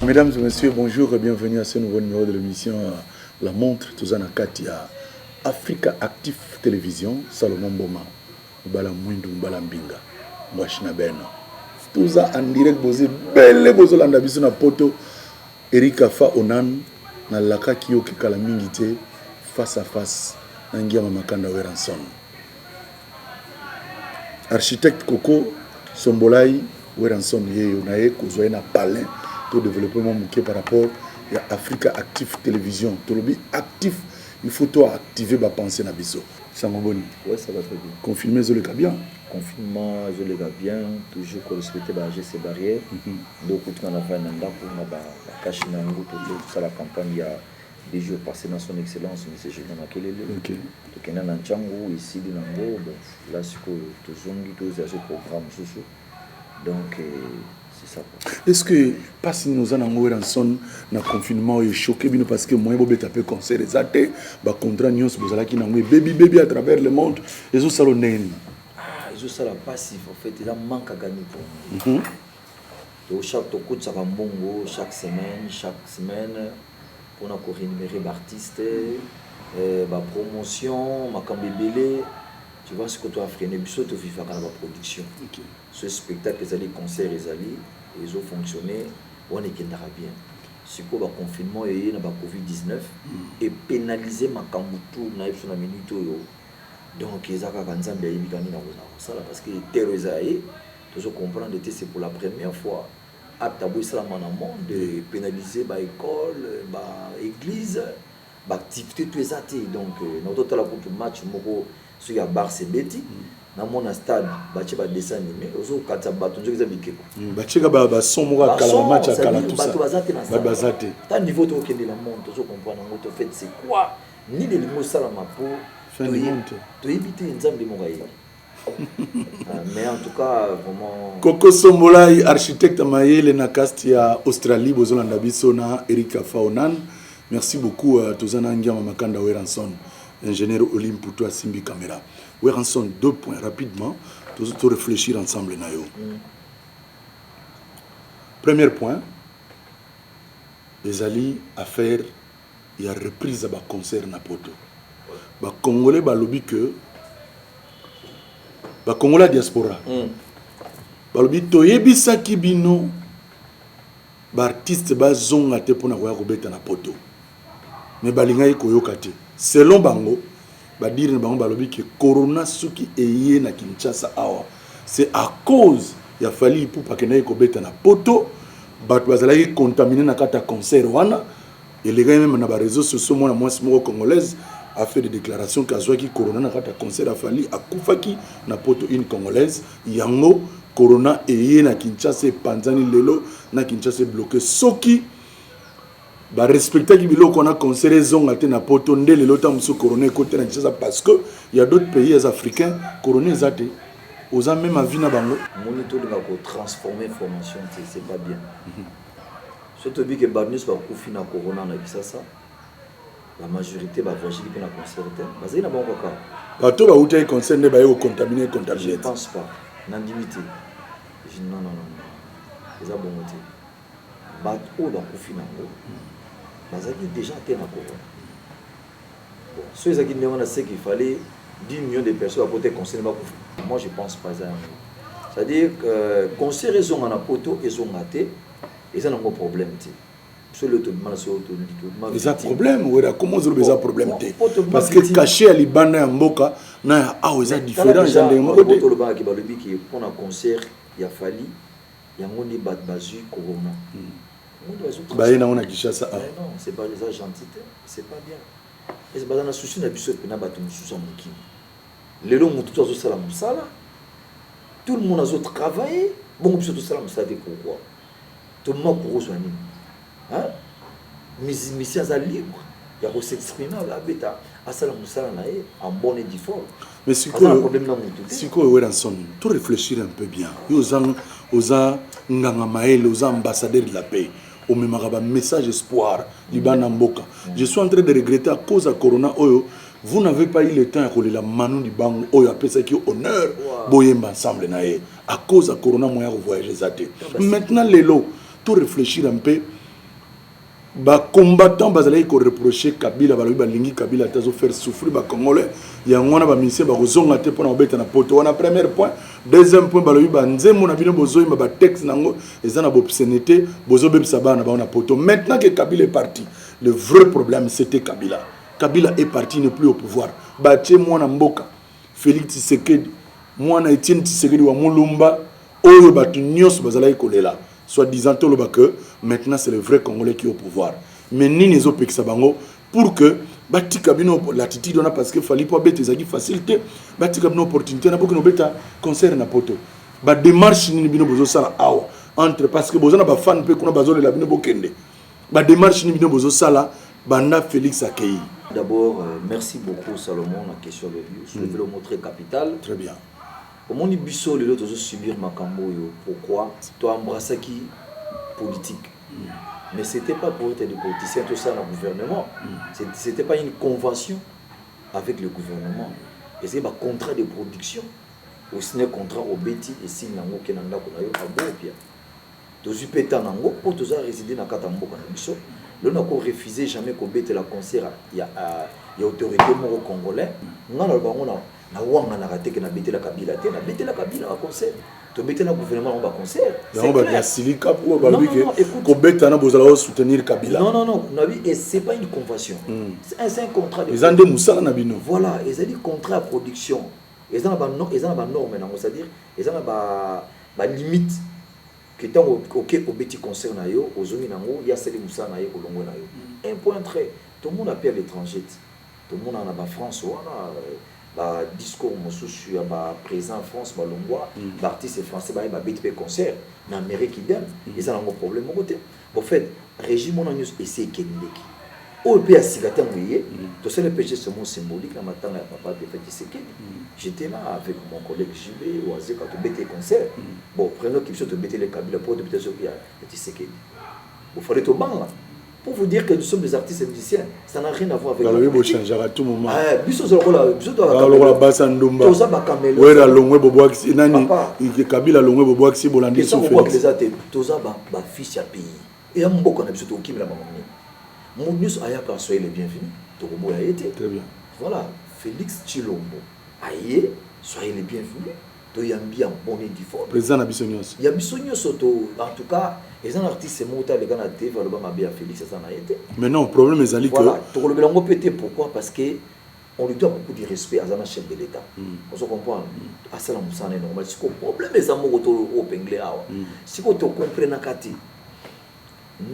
Mesdames et messieurs, bonjour et bienvenue à ce nouveau numéro de l'émission euh, La Montre. Tous en Akati à Africa Actif Télévision, Salomon Boma, Bala Mwindu, Bala Mbinga, Mwashina Ben. Tous en direct, vous êtes belle, vous êtes en na poto. Erika Fa Onan, na laka kiyoki kala mingi te, face à face, na ngiama makanda Weranson. Architecte Coco Sombolai Werrason Yeyo na ye kozwa ye na palin to développer mwa moke par rapport ya Africa Actif Television tolobi actif il faut to activer ba pensée na biso sango boni ouais ça va très bien confinement ezoleka bien confinement ezoleka bien toujours ko respecter ba gestes barrières mm -hmm. donc kutu na vanda na ndako na ba kashi na yango to sala campagne ya deux jours passe na son excellence monsieur Julien Makelele okay. tokenda na ncango esili na yango bon la sikoyo tozongi tozwa so programme mosusu donc euh, c'est ça quoi est ce que mpasi nini oza nango weranson na confinement oyo echoke bino parce que moyen bobeta mpe concert eza te bacontra nyonso bozalaki nango ebebibebi à travers le monde ezosala ndenge nini ah, ezosala mpasi en fait eza manque à gagner pour mhm. to chaque tokotisaka mbongo chaque semaine chaque semaine pona ko renumerer ba artistes eh ba promotions makambo ebele tu vois sikoyo to affrene biso to vivaka na ba productions soki spectacle ezali concert ezali ezo fonctionner wana ekendaka bien sikoyo ba confinement eye na ba covid 19 e penaliser makambu tout naye biso na minute oyo donc eza kaka nzambe ayebi kaka nini akozala kosala parce que terreau eza ya ye tozo comprendre te c'est pour la première fois Acte ya boye esalama na monde penalise ba ecole ba eglise ba activite tout eza te donc na to tala kutu match moko soki ya barce ebeti mm. na mona stade ba tie ba dessin anime ozo katisa bato nzoki eza bikeko mm, ba tieka ba ba son moko kala ba match ya kala tout ça bato baza te na stade baza te ta niveau to kende na monde ozo comprendre ngo to fait c'est quoi nini elingi osalama po toyebi te nzambe moko ayebi mais en tout cas vraiment koko sombolai architecte mayele na cast ya australie bozolanda biso na erika faonan merci beaucoup uh, toza na ngiama makanda weranson ingénieur olimpu to asimbi camera weranson deux points rapidement tozo to réfléchir ensemble na yo mm. premier point ezali affaire ya reprise ya ba concert na poto ba congolais balobi que ba congolais ya diaspora mm. balobi toyebisaki bino baartiste bazonga te mpona koya kobeta na poto me balingaki koyoka te selon bango Ba dire na bango balobi que corona soki eye na Kinshasa awa c'est à cause ya Fally Ipupa akendaki kobeta na poto batu bazalaki contamine na kati ya concert wana elekaki meme na ba reseaux sociaux mwana mwasi moko congolaise a fait des declarations que azwaki corona na kati ya concert ya Fally akufaki na poto une congolaise yango corona eye na Kinshasa epanzani lelo na Kinshasa ebloke soki Ba respectaki biloko wana concert ezonga te na poto nde lelo ta mosusu corona ekoti te na Kinshasa parce que il y a d'autres pays ya africains corona eza te oza meme avis na bango moni tolinga ko transformer information te c'est pas bien so toyebi ke bato nyonso bakufi na corona na Kinshasa la majorité bavoyageli mpe na concert te bazali na bango kaka bato bawutaki concert nde baye kocontamine contamine je pense pas nandimi te non non non eza bongo te Batu oyo bakufi na ngo bazalaki dejà te na corona bon soki ezalaki ndenge wana ce qu'il fallait 10 millions de personnes bakota econcerne bakufa moi je pense pas eza yango c'est à dire euh, concert ezonga na poto ezonga te eza nango problème te solo tobima na solo tobima eza problème wera koma ozoloba eza problème te parce que cachet ya libanda ya mboka na ya awa eza différent eza ndenge moko te tolobaki balobiki mpo na concert ya fali Yango nde bat bazui corona. Baye nango na Kinshasa awa. Non, c'est pas eza gentil te, c'est pas bien. Est-ce baza na souci na biso pena batu mususu ya mokili. Lelo mutu to azo sala musala, tout le monde azo travailler, bongo biso to sala musala te pourquoi? To mako kozwa nini? hein mizimisi aza libre ya ko s'exprimer oyo abeta asala mosala na ye en bonne et due forme mais sikoyo problème na mutu te sikoyo Werrason to réfléchir un peu bien yo oza oza nganga maele oza ambassadeur de la paix omemaka ba message espoir libanda mboka mm. je suis en train de regretter à cause ya corona oyo vous n'avez pas eu le temps ya kolela manu libango oyo apesaki honneur boyemba ensemble na ye à cause ya corona moyen ya kovoyage eza te maintenant lelo to reflechir un peu ba combattants bazalaki ko reprocher kabila balobi balingi kabila te azofaire souffrir ba congolais yango wana bamisie bakozonga te mpona kobeta na poto wana premier point deuxième point balobi banzembo na bino bozoyimba batexte na yango eza na bobsene te bozobebisa bana na bango na poto maintenant que kabila est parti le vrai problème c'était kabila kabila est parti ne plus au pouvoir batie mwana mboka Felix Tshisekedi, mwana ya Etienne Tshisekedi wa Mulumba oyo batu nionso bazalaki kolela soit disant toloba que maintenant c'est le vrai congolais qui au pouvoir mais nini ezo pekisa bango pour que batika bino latitude wana parce que Fally po abeta ezalaki facile te batika bino opportunité na bokino beta concert na poto ba démarche nini bino bozo sala awa entre parce que boza na ba fan pe kuna bazolela bino bokende Ba demarche nini bino bozo sala banda Felix akeyi? D'abord, euh, merci beaucoup Salomon na question de Dieu. Sur le mot très capital. Très bien. omoni biso lelo tozo subir makambo oyo pourquoi to embrassaki politique mm. mais c'était pas pour être des politiciens tout ça na gouvernement mm. c'était pas une convention avec le gouvernement ezali ba contrat de production osine contrat obeti esili nango okenda ndako na yo abopia tozui pe temps nango po toza reside na kati ya mboka na biso lelo nako refuse jamais ko betela concert ya ya autorite moko congolais nga naloba yango na na wanganaka te ke na betela kabila te na betela kabila ba concert tobetela gouvernement yango ba concert yango ba ya silika po ba lobi ke ko beta na bozala o soutenir kabila non non non na bi et c'est pas une convention mm. c'est un, un contrat de ezande musala na bino voilà ezali contrat ya production eza na ba eza na ba norme nango c'est à dire eza na ba Ba limite que tango oke obeti concert na yo ozongi na ngo ye asali musala na ye olongwe na yo un point très tomona pe a l'etrangete tomona na ba France wana ba discours mosusu ya ba president ya France ba longwa ba artiste français baye ba beti pe concert na Amerique idem eza na ngo problème moko te Au fait regime wana nionso esi ekendeki oyo pe ya sika tango eye tosali pe geste moko symbolique na matanga ya papa defunt Tshisekedi j'etais là avec mon collègue JB wazekwa tobeti ye concert bon prenons que biso tobeteli ye Kabila pourquoi tobeteli ye soki ya Tshisekedi? Bo fallait tobanga pour vous dire que nous sommes des artistes musiciens ça n'a rien à voir avec balobi bochangeaka tout moment eh, biso tozalokola biso tozalokola basa ndumba toza bakamelo wera longwe bobwakisi nani kabila longwe bobwakisi bolandi sofobwakisi eza te toza bafils ya pays eya mboka na biso tokokimela bango nini moto nyonso ayaka soye le bienvenu tokoboya ye te voilà félix chilombo aye soye le bienvenu toyambi ya boni diforme president na biso nyonso ya biso nyonso to en tout cas eza na artiste moko te aleka na tv aloba mabe ya félix aza na ye te mais non problème ezali que voilà tokolobela yango mpe te pourquoi parce que on lui doit beaucoup de respect aza na chef de l'état mm. ozo comprendre mm. asala mosala na ye normal sikoyo problème eza moko to opengle awa mm. sikoyo tocomprenaka te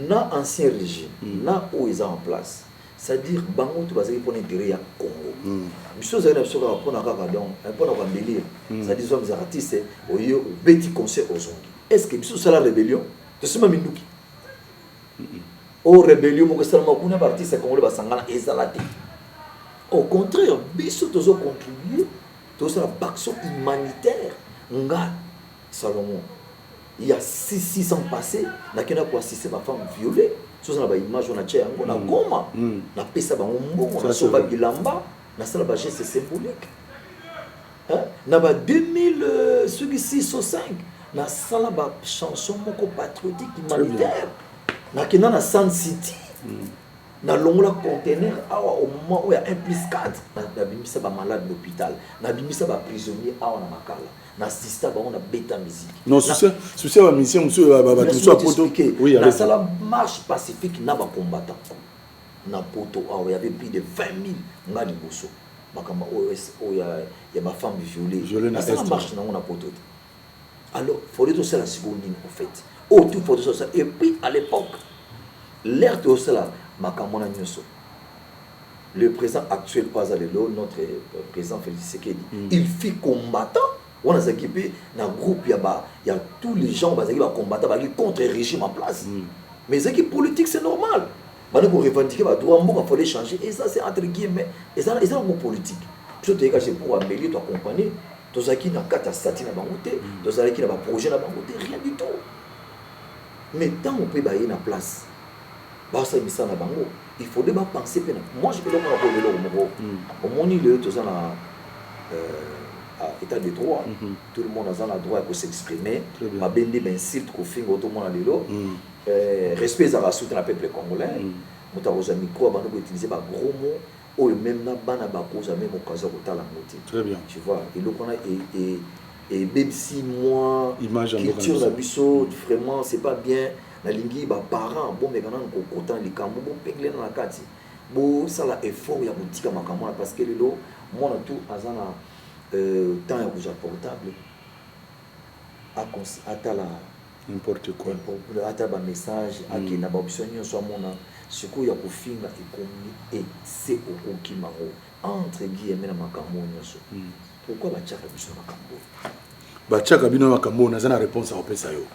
na ancien régime mm. na oyo eza en place C'est à dire bango tout bazali pona intérêt ya Congo. Biso tozali na biso kaka pona kaka donc eh, pona ko embellir. C'est à dire soit mizaka artiste oye obeti concert ozongi. Est-ce que biso sala rebellion? Tosima minduki. O oh, rebellion moko esalama kuna ba artiste congolais basangana ezala te. Au contraire, biso tozo contribuer tosala baction humanitaire nga Salomon il ya six six ans passe nakenda ko assister ba femme viole soza na ba image wana tia yango na goma napesa bango mbongo nasomba bilamba nasala ba geste symbolique na ba 2000 soki 6 to 5 nasala ba chanson moko patriotique humanitaire nakenda na sun city nalongola contener awa au moment oyo ya 1 plus 4 nabimisa ba malade na hôpital nabimisa ba prisonnier awa na makala na assista bango na beta musique non souci ya ba musicien mosusu bato mosusu ya poto nasala marche pacifique na bacombattant na poto awa yave plus de 20 000 nga liboso makambo oyo oyo ya bafemme viole nasala marche nango na poto te alors fode tosala sikoyo nini au fait oyo tout fode tosala et puis à l'époque l'air tosala makambo na nyonso Le president actuel oyo aza lelo notre president Felix Tshisekedi mm. il fit combattant wana azalaki mpe na groupe ya ba ya tous les gens bazalaki ba combattant bazalaki contre régime en place mm. mais ezalaki politique c'est normal bana ko revendiquer ba droit mboka fallait changer et ça c'est entre guillemets et ça et ça ngo politique biso toyeka c'est pour embellir to accompagner tozalaki na kati ya stati na bango te mm. tozalaki na ba projet na bango te rien du tout mais ntango mpe baye na place basala misala na bango il faudrait ba penser pe na moi je peux donc ko lelo moko omoni lelo toza na euh, à état de droit mm -hmm. tout le monde aza na droit ya ko s'exprimer mabe nde ba insulte ko finga to mona lelo mm. euh, respect ezaka soutien na peuple congolais mm. moto akozwa micro abanda ko utiliser ba gros mots oyo meme na bana bakozwa meme occasion ya kotala yango te tu vois eloko wana ebebisi mwa culture na biso vraiment c'est pas bien Nalingi ba parents bomeka nanu kokota na likambu bopengelena na kati bosala effort ya kotika makambo wana parce que lelo mwana tout aza na temps ya kozwa portable atala n'importe quoi atala ba message akenda ba option nyonso amona sikoyo ya kofinga ekomi ese okoki mango entre guillemets na makambo nyonso Pourquoi batiaka biso na makambo oyo? batiaka bino na makambo oyo naza na réponse akopesa yo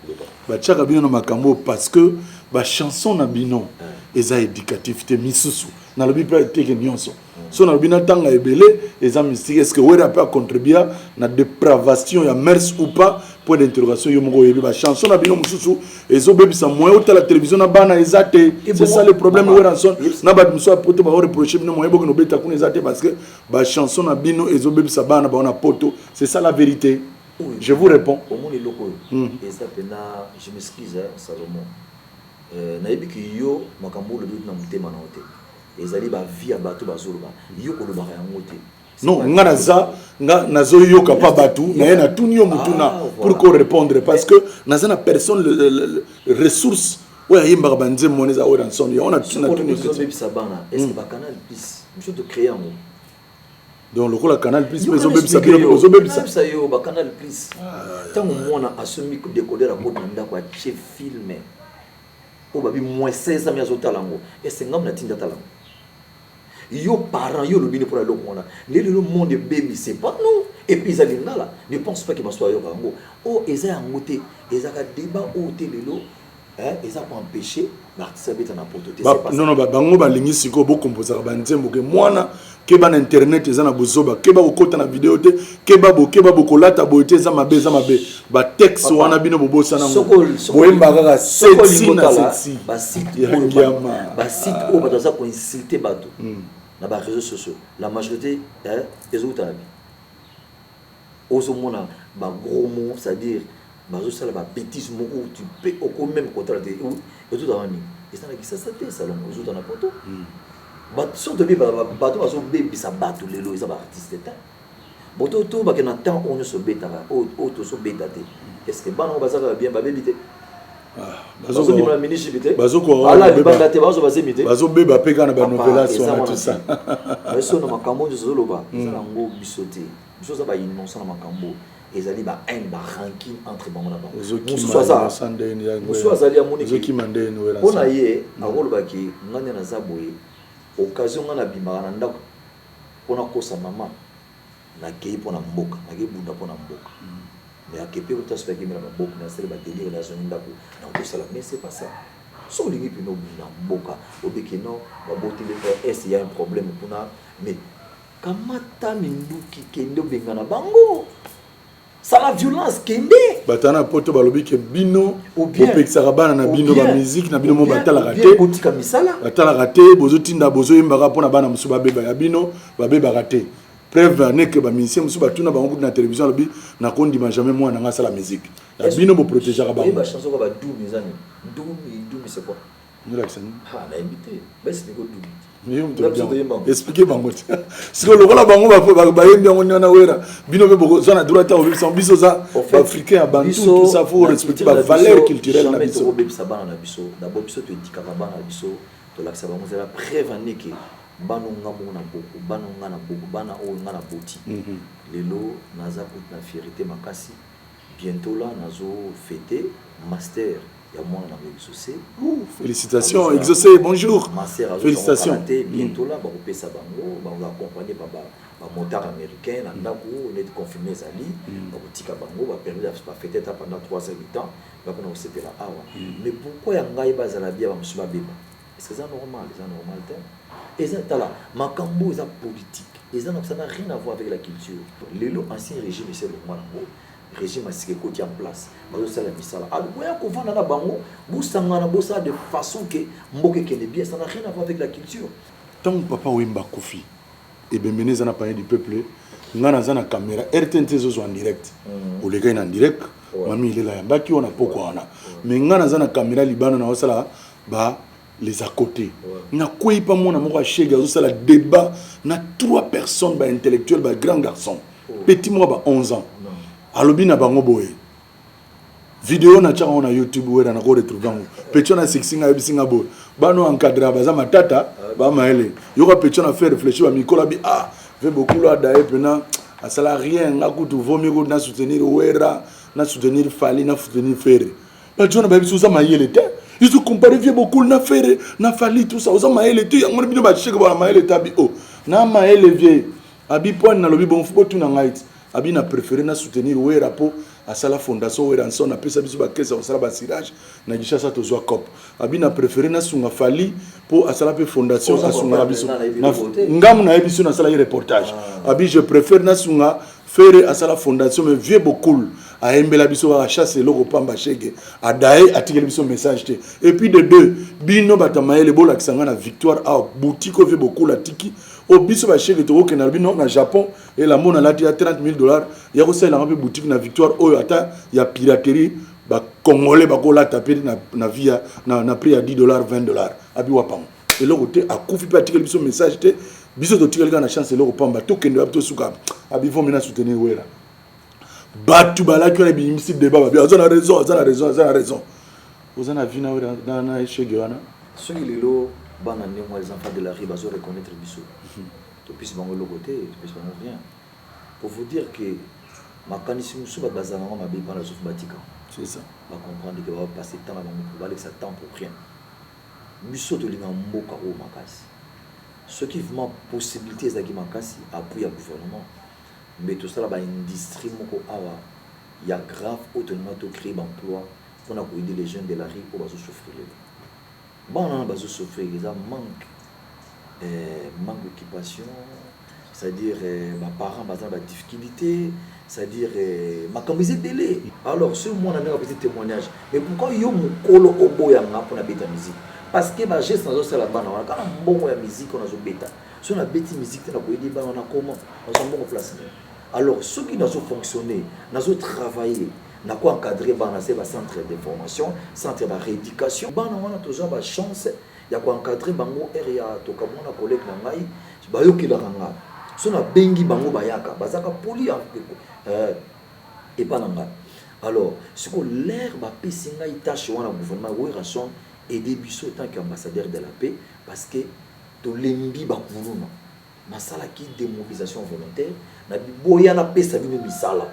batiaka bino na makambo oyo parce que bachanson na bino eza éducatif te misusu nalobi mpe teke nyonso so nalobi natanga ebele eza mystique est ce que wera mpe acontribua na dépravation ya mers ou pas point d'interrogation yo moko oyebi bachanson na bino mosusu ezobebisa moyen otala télévision na bana eza te c'est ça le problème weranson na bato mosusu ya poto baoreproche bino moyen bokende obeta kuna eza te parce que Ba chanson na bino ezo bebisa bana na bango na poto c'est ça la verite je vous reponds. Omoni eloko oyo hmm. eza pena je m'excuse hein, Salomon euh, nayebi ke yo makambo olobi na motema na yo te ezali ba vie ya bato bazoloba yo kolobaka yango te non nga naza nga nazoyoka pa bato naye natuni yo motuna ah, pour ko répondre parce que naza na personne ressource oyo ayembaka ba nzembo wana eza oyo na nsondo yango na tuna tuna biso bebisa bana est ce que hmm. ba canal plus biso to créer yango donc lokola canal plus mais ozobebisa bino ozobebisa bisa yo ba canal plus ntango ah, mwana asombi decoder akoti na ndako atie filme oyo babi moins 16 ami azotala yango ese ngambo na tinda tala yango yo parent yo olobi ni mpona eloko wana nde lelo monde ebebise pa non epuis eza lingala ne pense pas ke baso ayoka yango oyo oh, eza yango te ezaka deba oyo oh, te lelo nono bango balingi sikoyo bokompozaka banzembo ke mwana keba na internet eza na bozoba keba kokota na video te keba bo keba bokolata boye te eza mabe eza mabe batexte wana bino bobosana boyemba kaka seti na seti basite oyo bato aza koinsulte bato hmm. na bareseau sociaux la majorité ezokutana bi ozo mona ba gros mots c'est à dire bazo sala ba betises moko tu peux okomi meme kotala te ezo ta nini eza na kisasa te salongo ezo ta na poto but soki toyebi bato bazo bebisa bato lelo eza ba artistes te bo to to bakenda temps oyo nyonso obetaka oyo tozo beta te est ce que bana oyo baza kaka bien babebi te bazobima na municipi te ala libanda te bazo bazemi te bazobeba mpe kaka na banovelas wana tusa biso na makambo nyonso ozoloba hmm. eza nango biso te biso oza bainonsa na makambo ezali ba haine ba ranking entre bango na bango mosusu aza mosusu azali amonimpo na ye hmm. akolobaki ngai nde naza boye occasion ngai nabimaka na ndako mpo nakosa mama Na keyi pona mboka na ke bunda pona mboka mais a kepe kuta soki a kemela ba boko na sali ba delire na zongi ndaku na ko sala mais ce pas ça soki olingi pena obunda mboka obi ke non ba boti nde heure est ya un probleme kuna mais kamata minduki kende obengana bango sala violence kende bata na poto balobi ke bino opekisaka bana na bino bamiziki na bino mo batalaka te botika misala batalaka te bozotinda bozoyembaka mpo na bana mosusu babeba ya bino babebaka te preuve ane ke bamusicien mosusu batuna bango kutu na télévision alobi nakondima jamais mwana nanga asala miziki ya bino boprotegeaka bango nolakisa nini ah, nayebi te basi ndeko dubi explike bango te sikoyo lokola bango bayembi yango niana wera bino mpe bokozwa na droit ta kobebisa biso oza baafricain ya bantusa fo respecte bavaleur culturelle na biso kobebisa bana na biso dabo biso toetikaka bana na biso tolakisa bango zela preuve andeke bana nga moko na boko bana nga na boko bana oyo nga na boti mhm. lelo naza kutu na fierité makasi Bientot là nazo fete master ya mwana na ngo exauce. Ooh felicitations exauce bonjour. Ma sœur azo zua ngo kala te bientot là bako pesa bango bako accompagner par ba ba motards americains na ndaku neti confinement ezali bako tika bango ba permettre ba feter ata pendant trois heures de temps bako na ko sepela awa mais pourquoi ya ngai ba zala bien ba mosusu ba beba? Est-ce que eza normal? Eza normal te. Eza tala makambu oyo eza politique. Eza na ça n'a rien à voir avec la culture. Lelo ancien regime esi elongua nango, regime ya sika ekoti en place. Bazo sala misala. Alors boya ko vanda na bango, bo sangana bo sala de façon que mboka ekende bien. Ça n'a rien à voir avec la culture. Tangu papa Wemba akufi, ebembe ne eza na panier du peuple, nga naza na camera, RTNC ezo zwa en direct. Oleka ina en direct, mami ilela ya mbaki wana pokwa wana. Mais nga naza na camera libanda na osala ba les à côté nakweyi mpa mwana moko ashege azosala débat na trois personnes baintellectuel ba grand garçon oh. petit moko ba 11 ans alobi na bango boye video natyaka yango na youtube wera nako retrouve yango petit wana asekisi ngai ayebisi ngai boye bana oyo encadra baza matata ah. bamayele yoka petit wana fait réfléchir bamikola bi ah ve bokulu adaye mpena asala rien nga kutu vomi kutu na soutenir wera na soutenir fali na soutenir ferre ba jona ba biso oza mayele te ils ont comparé vieux bokul na ferre na fali tout ça oza mayele te yango bino ba cheke ba mayele te abi oh na mayele vieux abi point na lobi bon faut tuna ngai ti abi na préféré na soutenir wera po asala fondation weranson apesa biso bakese ya kosala basirage na kinshasa tozwa cop abi na préféré nasunga fali mpo asala mpe fondation asungaka biso ngamu nayebi biso nasalaki reportage ah. abi je préfère nasunga Ferre asala fondation mais vieux Bokul ayembela biso kaka chasse eloko pamba shege adaye atikeli biso message te et puis de deux bino bata mayele bolakisa ngai na victoire awa boutique oyo vieux Bokul atiki o biso ba shege tokokenda na bino na Japon elambo nalati ya 30 000 dollars ya kosalela ngai mpe boutique na victoire oyo ata ya piraterie ba congolais bakolata mpe na, na via na, na prix ya 10 dollars 20 dollars abi wapango eloko te akufi mpe atikeli biso message te biso totikali kaka na chance eloko pamba tokende wapi tosuka abivon mena soutenir wera bato balaki wana biyimisi deba babi aza na raison aza na raison aza na raison oza na vi na wera na echege wana soki lelo bana ndenge wana enfant de la rue bazo reconnaître biso mhm. topesi bango eloko te topesi bango rien pour vous dire que makanisi mosusu bato bazala yango mabe mpana soki batika bacomprendre ke bapasse temps na bango balekisa temps pour rien Biso tolinga mboka oyo makasi soki vraiment possibilite ezalaki makasi appuie ya gouvernement mais tosala ba industrie moko awa ya grave oyo tolinga to cree ba emploi pona ko aider les jeunes de la rue oyo bazo souffrile bana wana bazo souffrir eza manque manque d'occupation C'est à dire ba parents baza na ba difficulite c'est à dire makambo eza ebele alors ce mwana ndenge apesi témoignage mais pourquoi yo mokolo oboya nga mpo nabeta musique parce que ba geste nazosala bana wana kaka mbongo ya musique oyo nazobeta so nabeti musique te nakoyede bana wana comment nazwa mbongo place nini alors soki nazofonctionne nazotravaille nako encadre bana se bacentre de formation centre ba rééducation bana wana toza bachance ya ko encadrer bango heure ya toka bango na collegue na ngai bayokelaka nga soki na bengi bango bayaka bazaka poli eh, epa na ngai alors siko l'air bapesi ngai tâche wana gouvernement werrason aide biso tant que ambassadeur de la paix parce que tolembi bakuluna nasalaki démobilisation volontaire na biboya napesa bino misala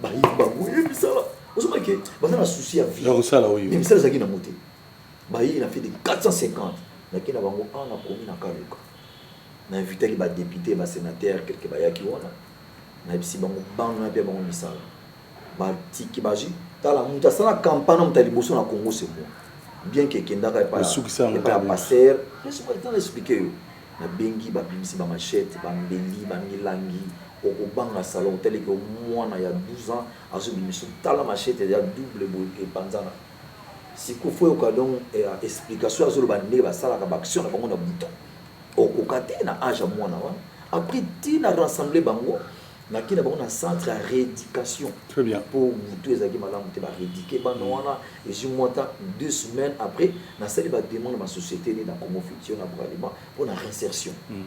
bayebi bango ye misala ozomaki baza na souci ya vie misala ezalaki nango te Baye na fait de 450 nake na bango awa na komi na kaluka na invitaki ba depute ba senateur kelke bayaki wana nayebisi bango bana nape bango misala batiki baji tala moto asala kampana moto ya liboso na congo se moi bien ke ekendaka epai ya paster na explike yo nabengi babimisi bamachete bambeli bamilangi okobanga salon otaleke mwana ya 12 ans azobimisa tala machete ya double boye epanzana Sikoyo faut yoka donc explication azo loba nde ba salaka ba action na bango na buta. Okoka te na age ya mwana wana. Après ti na rassembler bango na ki na bango na centre ya reeducation. Très bien. Po butu ezaki malamu te ba reeduquer bana wana ezui mwa temps deux semaines après na sali ba demande na société ni na Congo Futur na Bralima po na réinsertion. Mm.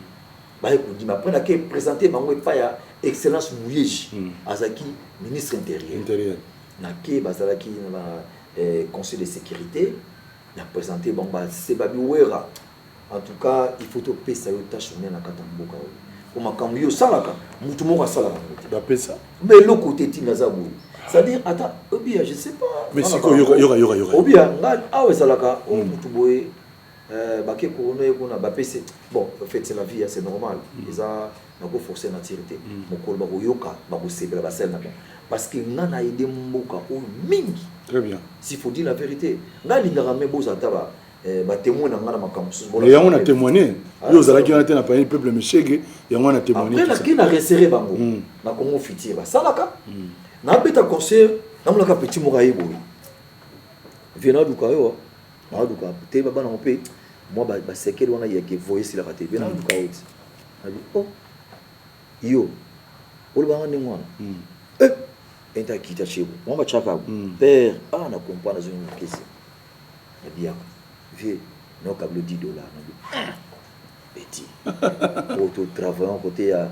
Baye kondima après na ke présenter bango epa ya excellence Muyeji mm. azaki ministre intérieur. Intérieur. Na ke bazalaki na conseil de securite na presenter bango ba sebabi werra en tout cas il faut to pesa yo tache monene na kati ya mboka oyo po makambu yo osalaka mutu moko asala ka ngo te ba pesa mais eloko te ti naza boye c'est à dire ata obia je sais pas mais siko yoka yoka yoka obia nga awa ezalaka o mutu boye Eh bake couronne ye kuna ba pese bon en fait c'est la vie c'est normal eza na ko forcer nature te mokolo bako yoka bako sepela ba sel na ba parce que nga na aide mboka oyo mingi très bien s'il faut dire la verite nga lingaka mais boza ata ba eh, ba témoin na nga na makambo mosusu mais yango na témoigner ah, yo ozalaki wana te na payani peuple meshege yango na témoigner après naki na resserre bango hmm. na Congo futur basalaka hmm. na beta concert namonaka petit moko aye boye viena duka yo Nazo luka te ba bana mpe mwa ba ba sekele wana ya ke voye silaka te. Bien nazo luka yo ti. Nabi oh yo oloba nga ndenge wana. Mm. Eh enta kita chebo. Mwa ba chaka mm. père ah na comprendre zo ngukese. Nabi yaka vie na kablo 10 dollars nabi. Ah. Petit po to travaillons kote ya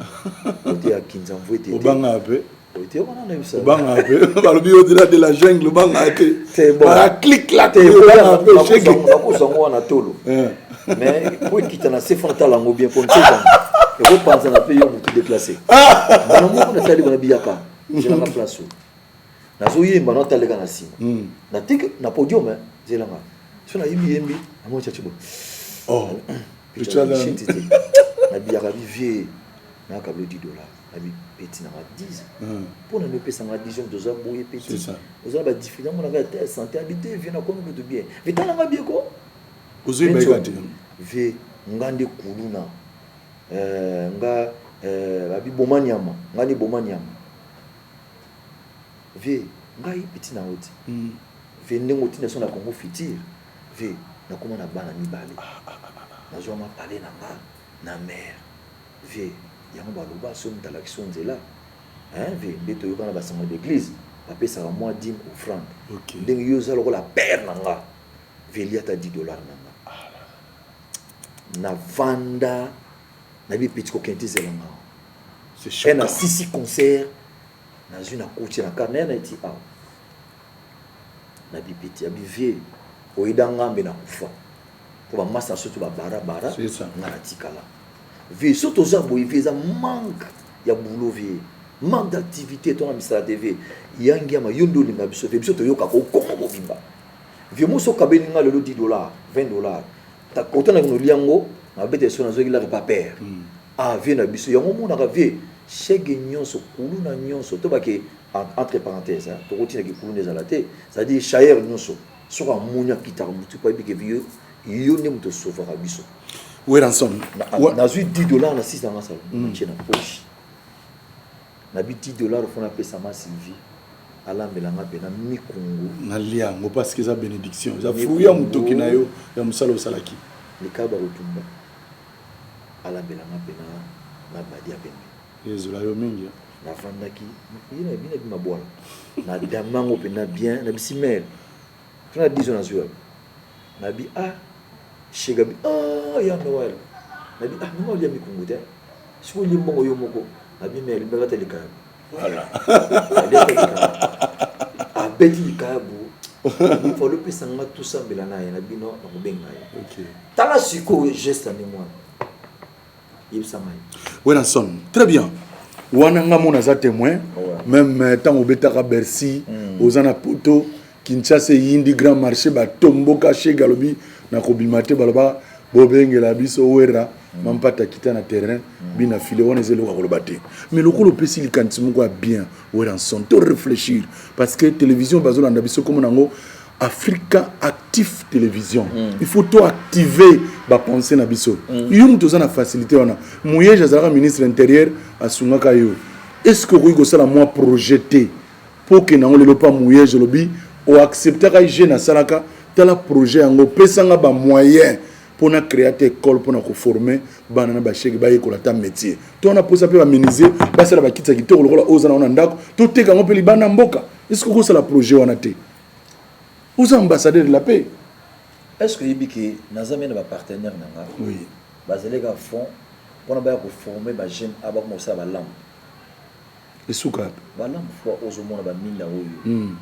kote ya Kinzamvuete te. Obanga pe. Oite wana na bisa. Obanga pe. Balobi yo dila de la jungle obanga te. Te bon. Ba click la te obanga pe shege. Na ko sango wana tolo. Eh. Mais po kita na se fanta lango bien comme ça. Et ko panza na pe yo mutu déplacé. Bana mo na tali bana biyaka. Je na place. nazo yemba na taleka na sima hmm. na tiki na podium hein zela nga so na yembi yembi na mo chachi bo oh pichana shit te na biyaka bi vieux na kablo 10 dollars na bi petit na ma 10 hmm. po na mipesa nga 10 jours doza boye petit oza ba difficulté mo na ga te santé habité vieux na kono kutu bien vitala nga bien ko ozo yemba ka te vieux nga nde kuluna euh nga euh babiboma nyama nga ni boma nyama vie ngai petit na yo ti vie ndenge oti na biso na congo futur vie na koma na bana mibale na zwa ma palais na nga na mère vie yango ba loba soki moto alakisi yo nzela hein vie nde to yokana ba sango d'eglise ba pesaka mwa dime offrande okay. ndenge yo za lokola père na nga vie liata 10 dollars na nga na vanda na bi petit ko kenti zela nga c'est chaud na sisi concert na zui na koti na carnet na ti awa na bi petit abi vieux oyeda ngambe na kufa po ba masta soto ba bara bara nga na tikala vieux soto za boye vieux za manque ya boulot vieux manque d'activité to na misala te vieux yangi ya mayondo olinga biso vieux biso toyoka ko kongo bobimba vieux moso kabeli nga lelo 10 dollars 20 dollars ta kota na kino lia ngo na bete so na zoki la pa père mm. ah vie na biso yango mona ka vie chege nyonso kulu na nyonso to ba ke entre parenthèses hein to koti na ki kulu nezala te c'est à dire chair nyonso so ka munya kita ko mutu pa bi ke vie yo ne mutu sauver ka biso weranson na zui 10 dollars na 6 na masalo mm. na poche Nabi 10 dollars faut napesa ma Sylvie alambela nga pena mikungu. Nalia yango parce que eza benediction, eza fruit ya mutoki na yo ya musala osalaki. Likaba kotumba alambela nga pena na badi ya pembe. Ezola yo mingi hein. Nafandaki bino bino bima bwana na dambi yango pena bien nabisi mère. Soki na 10 ans nazui wapi? Na bi ah chez Gabi ah ya Noël. Na bi ah maman olia mikumbu te hein? Soki olie mbongo yo moko. Na bi mais alingaka ata likayabu. Voilà. Alia ata likayabu. Abeti likayabu. Fallait opesa nga tosambela na ye. Na bi non nakobenga ye. Okay. Tala sikoyo geste ya ndenge wana. yebisa ngai Wenanson très bien wana nga mona aza témoin même euh, ntango obetaka bercy mm. oza na poto kinshasa eyindi grand marché batomboka shege alobi na kobima te baloba bobengela biso wera mm. mampata kita na terrain mm. bina file wana eza eloko ya koloba te mais lokola opesi likanisi moko ya bien Werrason to reflechir parce que television bazolanda biso komo nango africa actif television mm. il faut to activer bapense na biso mm. yo moto oza na facilité wana moyege azalaka ministre intérieur asungaka yo est ce que okoki kosala mwa projet te mpo okende yango lelo mpa moyege olobi oacceptaka je nasalaka tala projet yango opesanga bamoyen mpo na créer ata ekole mpo na koforme bana na bashege bayekola ata métier to wana mposa mpe baminisie basala bakiti ya kitoko lokola oyo oza na wana ndako toteka yango mpe libanda mboka eske okosala projet wana te oza ambassadeur de la paix est ce que oyebi ke naza mpe na bapartenaire na nga oui. bazali kaka fond mpona baya koforme bajeune a bakoma kosala balamu Esuka wapi? Balamu fwa ozo mona ba minda oyo mm.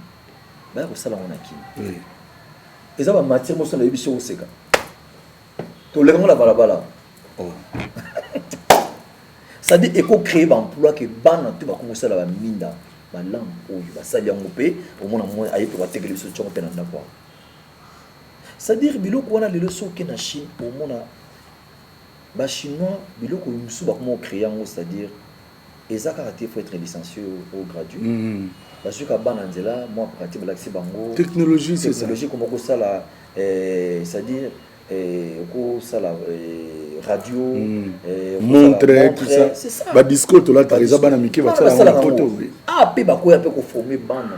baya kosala ngo na kin oui. eza ba matière mosusu nayebi si okoseka toleka ngo na balabala oh. sadi eko créer ba emploi ke bana to bakoki kosala ba minda balamu oyo basali yango mpe omona mwa aye mpe batekeli biso ncongo mpe na ndako yango c'est-à-dire biloko wana lelo soki oke na chine omona bachinois biloko mosusu bakoma ocréer yango c'est-à-dire Eza kaka te faut etre licencie ou gradue mm -hmm. bazwi ka bana nzela mwa pratique balakisi bango technologie technologie koma kosala eh, c'est à dire eh, kosala eh, radio mm. eh, montre tout ça c'est ça ba discours tolataka eza bana mike basalaka na poto ah pe bakoya pe ko former bana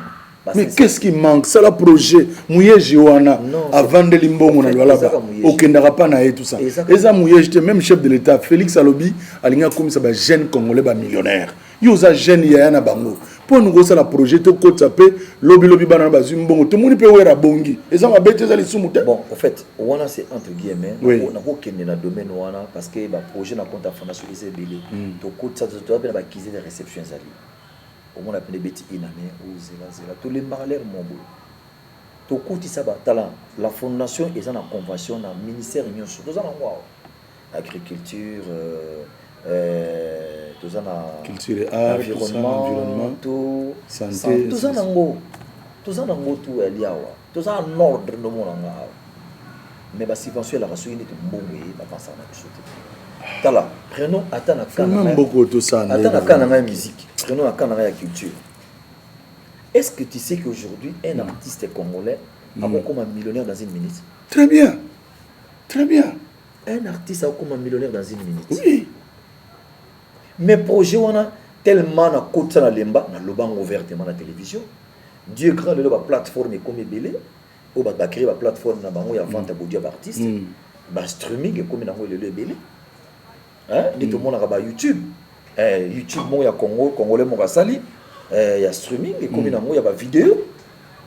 mais qu'est-ce qui manque sala projet muyeji wana avandeli mbongo na lualaba okendaka pa na ye tout ça eza muyeji te même chef de l'état félix alobi alingi akomisa ba jeune congolais ba millionnaire yo oza jeune yaya na bango mpo olingi kosala projet tokotisa mpe lobilobi bana na bazwi mbongo tomoni mpe wera abongi eza mabe te eza lisumu te bon en fait wana c'est entre guillemets oui. nakokende na domaine wana parce que baprojet na compte afanda soki eza ebele hmm. tokotisa toza mpe na bakize de réception ezali Omona pende beti ina ne o zela zela to lembaka ler mo boye to kotisa ba tala la fondation eza na convention na ministère nyoso toza na ngwa agriculture euh, euh, toza na culture et art environnement, environnement to santé toza na ngo toza na ngo to ya liawa Toza en ordre nde omona nga awa mais ba subvention elaka soki neti mbongo eye ba pensaka na biso te tala prenons ata na cas na ata na cas na ngai musique prenons na cas na ngai ya culture est-ce que tu sais qu'aujourd'hui un mm. artiste congolais mm. akokoma millionnaire dans une minute très bien très bien un artiste akokoma millionnaire dans une minute oui mais projet wana tellement nakotisa na lemba naloba yango ouvertement na télévision Dieu est grand lelo ba plate forme ekomi ebele oyo bato ba cree ba plate forme na bango ya vente ya baudio ya ba artiste mm. ba streaming ekomi na yango lelo ebele nde mm. tomonaka ba youtube eh, youtube moko ya congo congolais moko asali eh, ya streaming ekomi mm. na yango ya ba video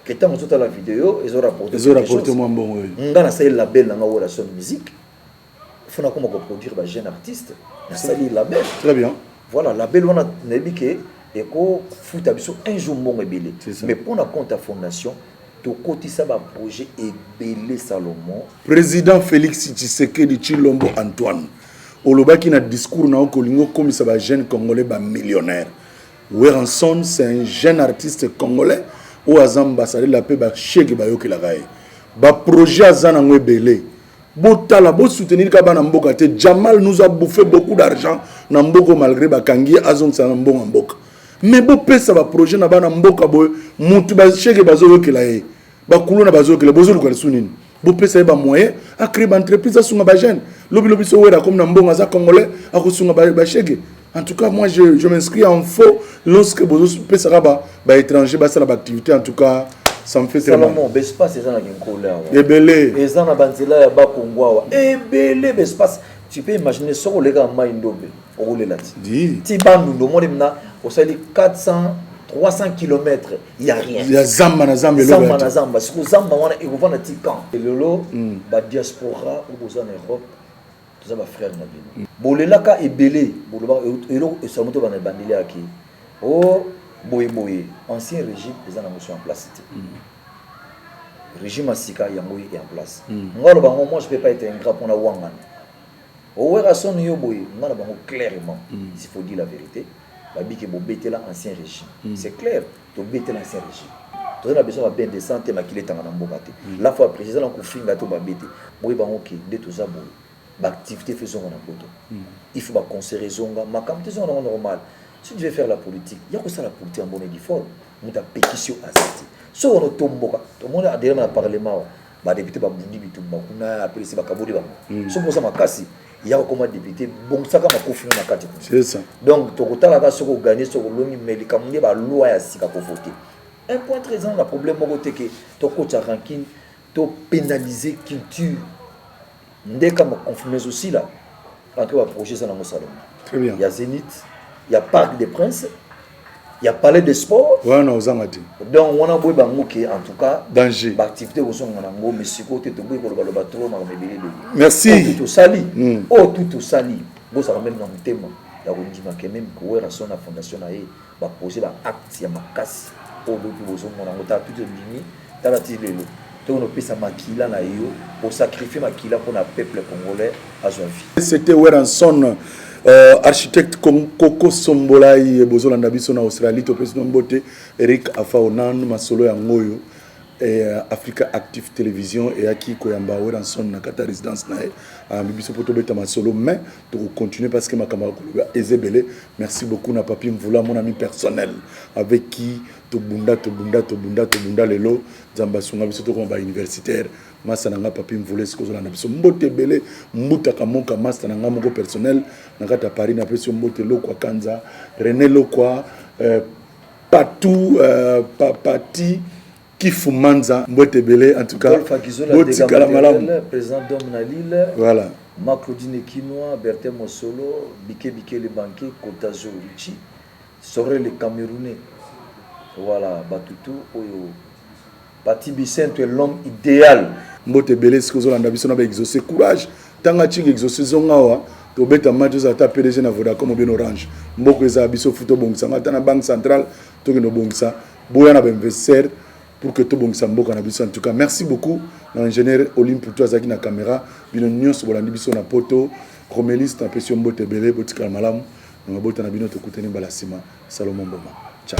ke ntango ozotala video ezo rapporte mwa mbongo oyo ngai nasali label na ngai oyo la son musique il faut nakoma ko produire ba jeune artiste nasali label très bien voilà label wana nayebi ke ekofuta biso un jour mbongo ebele mais mpo na compte ya fondation tokotisa baprojet ebele salomon président félix tshisekedi tshilombo antoine olobaki na discours na yo kolingi okomisa bajeune congolais bamillionnaire weranson c'est un jeune artiste congolais oyo aza ambassadeur la mpe bashege bayokelaka ye baprojet aza nango ebele botala bo soutenir ka bana mboka te jamal nous a bouffé beaucoup d'argent na mboko malgré bakangi ye azongisa na mbongo ya mboka mais bopesa baprojet na bana mboka boye mutu basheke bazoyokela ye bakuluna bazoyokela bozoluka lisu nini bopesa ye bamoyen acree baentreprise asunga bajeune lobilobi so wera akomi na mbongo aza congolais akosunga basheke En tout cas, moi, je, je m'inscris en faux lorsque vous pesaka ba, ba étrangers ba sala ba activité. En tout cas, ça me fait très mal. Salomon, espace eza na kinkola. Ebele. Eza na banzela ya ba kongwawa. Ebele espace. Tu peux imaginer ce qu'on lega mai ndobe. Okolela ti. Di. Ti bandu ndo mole mna osali 400 300 km ya rien ya zamba na zamba eloko zamba na zamba siko zamba wana ekovanda ti camp lelo mm. ba diaspora okozana Europe toza ba frère na bino bolelaka ebele bolobaka eloko esala moto bana ebandeli yaki o oh, boye boye ancien régime eza na motion en place te mm. régime ya sika yango ye en place mm. ngai aloba yango moi je peux pas être ingrat mpona wangana owera soni yo boye ngai na bango clairement mm. s'il faut dire la vérité babike bobetela ancien régime c'est clair To bete na serge. Toza na besoin ba bain de sang te makila etanga na mboka te. La fois après eza na kofinga to ba bete. Boye bango ke nde toza boye. Ba activite il faut ezonga na poto. Il faut ba concert ezonga makambo to ezonga na ngo normal. Si tu veux faire la politique ya kosala politique ya mbonedi fort mutu apekisi yo aza te. Soki wana otomboka tomoni adelema na parlement awa. Ba deputes ba bundi bitumba kuna apelisi ba kaboli bango. Mm. Soki oza makasi ya kokoma depute bongisaka makofi na kati kuna. Donc tokotala kaka soki oganye soki olongi mais likambo nde ba loi ya sika ko voter. Un point très important na problème moko te ke tokotya rancune to pénaliser culture Ndeka mo confirme ezo sila en tout ba projet eza nango salongo Très bien. ya Zenith ya Parc des Princes ya Palais des Sports Wana na ozanga te. donc wana boye bango ke en tout cas Danger. ba activité kozonga nango mais sikoyo te toboyi koloba loba trop makambo ebele ebele Merci. Oyo tout osali Mm. oyo tout osali bozala meme na motema ya kondima ke meme Werrason na fondation na ye Ba poser ba actes ya makasi oyo bo pe bozo mona yango tala tout ebimi tala ti lelo tokono opesa makila nayo o sacrifier makila pona peuple congolais azwa vie. C'était Werrason architecte Koko Sombolay bozo landa biso na Australie topesi bino mbote Eric Afao nanu masolo yango oyo Africa Active Television eyaki koyamba Werrason na kati ya residence na ye ayambi biso po tobeta masolo mais toko continuer parce que makambo ya koloba eza ebele merci beaucoup na papi mvula mon ami personnel avec qui tobunda tobunda tobunda tobunda lelo nzambe asunga biso tokoma ba universitaire masta na nga papi mvula esika ozolanda biso mbote ebele mbutaka moka masta na nga moko personnel na kati ya paris napesi yo mbote lokwa kanza rene lokwa euh, patou euh, papati Kifumanza mbwete ebele en tout cas botikala malamu président d'homme na Lille voilà ma Claudine Kinois Bertin Mosolo Bike Bike le banquier Kotazo Richie Sorre le Camerounais voilà batutu oyo Pati Bisentu l'homme idéal mbote ebele sikoyo ozolanda biso na ba exauce courage tanga chinga exauce zonga awa tobeta match ozala ata pdg na vodacom obien orange mboko ezala biso futa obongisanga ata na banque centrale tokende obongisa boya na ba investisseur pour que tobongisa mboka na biso en tout cas merci beaucoup na ingénieur Olimpo to azalaki na caméra bino nyonso bolandi biso na poto romeliste napesi yo mbote ebele botikala malamu na mabota na bino tokutani mbala nsima salomon mboma ciao